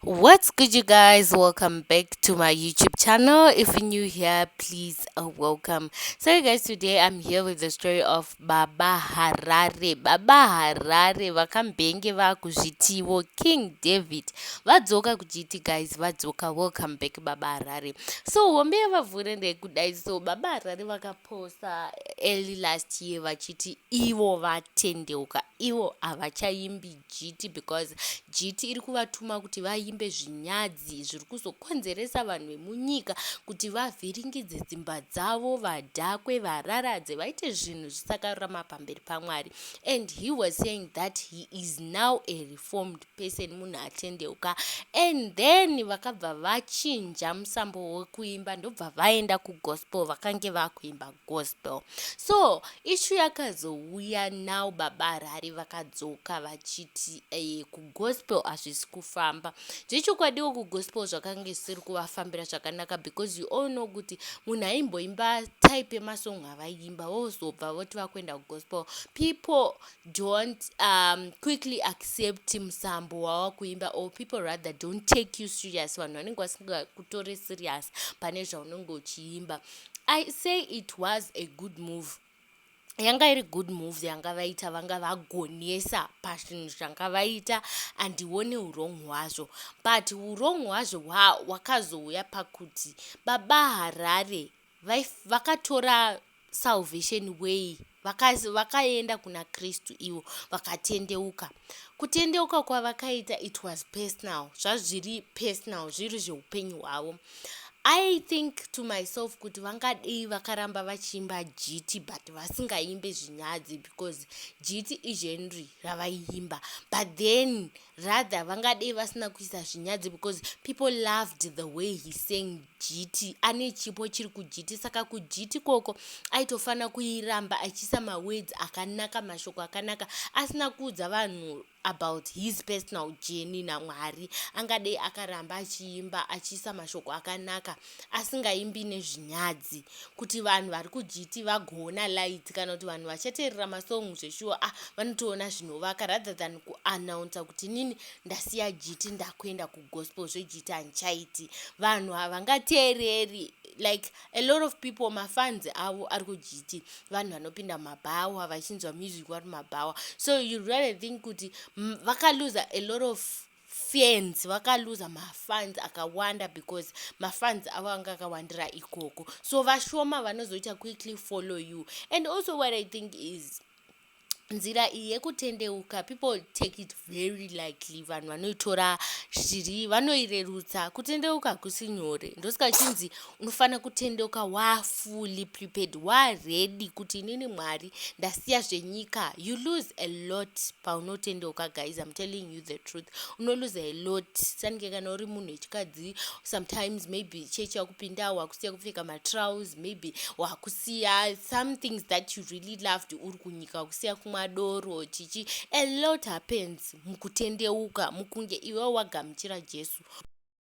what's good you guys welcome back to my youtube channel if you're new here please uh, welcome so you guys today i'm here with the story of baba harare baba harare vakambenge vakuzvitivo king david vadzoka kujiti guys vadzoka welcome back baba harare so hombe yavavhure ndekudai so baba harare vakaposta early last year vachiti ivo vatendeuka ivo havachaimbi jiti because jiti iri kuvatuma kuti vaimbe zvinyadzi zviri kuzokonzeresa vanhu vemunyika kuti vavhiringidze dzimba dzavo vadhakwe vararadze vaite zvinhu zvisakarurama pamberi pamwari and he was saying that he is now a reformed person munhu atendeuka and then vakabva vachinja musambo wekuimba ndobva vaenda kugospel vakange vakuimba gospel so ishu yakazouya now baba harare vakadzoka vachiti eh, kugospel hazvisi kufamba zvechokwadiwo kugospel zvakanga zvisiri kuvafambira zvakanaka because you all know kuti munhu aimboimba type yemasong avaiimba vozobva voti vakuenda kugospel people don't um, quickly accept musambo wava kuimba or people rather don't take you serious vanhu vanenge vasingakutori serious pane zvaunenge uchiimba I say it was a good move yanga iri good move yanga vaita vanga vagonesa pazvinhu zvanga vaita andione urong hwazvo but urong hwazvo hwakazouya pakuti baba harare vakatora salvation way Vakazi vakaenda kuna Kristu ivo vakatendeuka. Kutendeuka kwavakaita it was personal, zvazviri personal, zviri zveupenyu hwavo. I think to myself kuti vangadei vakaramba vachiimba jiti but vasingaimbe zvinyadzi because jiti igenry ravaiimba but then rather vangadei vasina kuisa zvinyadzi because people loved the way he sang jiti ane chipo chiri kujiti saka kujiti koko aitofanira kuiramba achiisa mawedzi akanaka mashoko akanaka asina kuudza vanhu about his personal journey namwari angadei akaramba achiimba achiisa mashoko akanaka asingaimbi nezvinyadzi kuti vanhu vari kujiti vagoona light kana kuti vanhu vachateerera masong zveshuwa a ah, vanotoona zvinovaka rather than kuannouncer kuti nini ndasiya jiti ndakuenda kugospel zvejiti handichaiti vanhu havangateereri like a lot of people mafans avo ari kujiti vanhu vanopinda mumabhawa vachinzwa music vari mumabhawa so you really think kuti vakaluza a lot of fans vakaluza mafans akawanda because mafans avo anga akawandira ikoko so vashoma vanozoita quickly follow you and also what i think is nzira iyi yekutendeuka people take it very likely vanhu vanoitora zviri vanoirerutsa kutendeuka kusi nyore ndosika chinzi unofanira kutendeuka waa fully prepared waa ready kuti inini mwari ndasiya zvenyika you lose a lot paunotendeuka guys im telling you the truth unolose a lot sanike kana uri munhu wechikadzi sometimes maybe chechi yakupinda wakusiya kupfeka matrouse maybe wakusiya some things that you really loved uri kunyika wakusiya kumwa doro chichi a lot happens mukutendeuka mukunge iwe wagamuchira jesu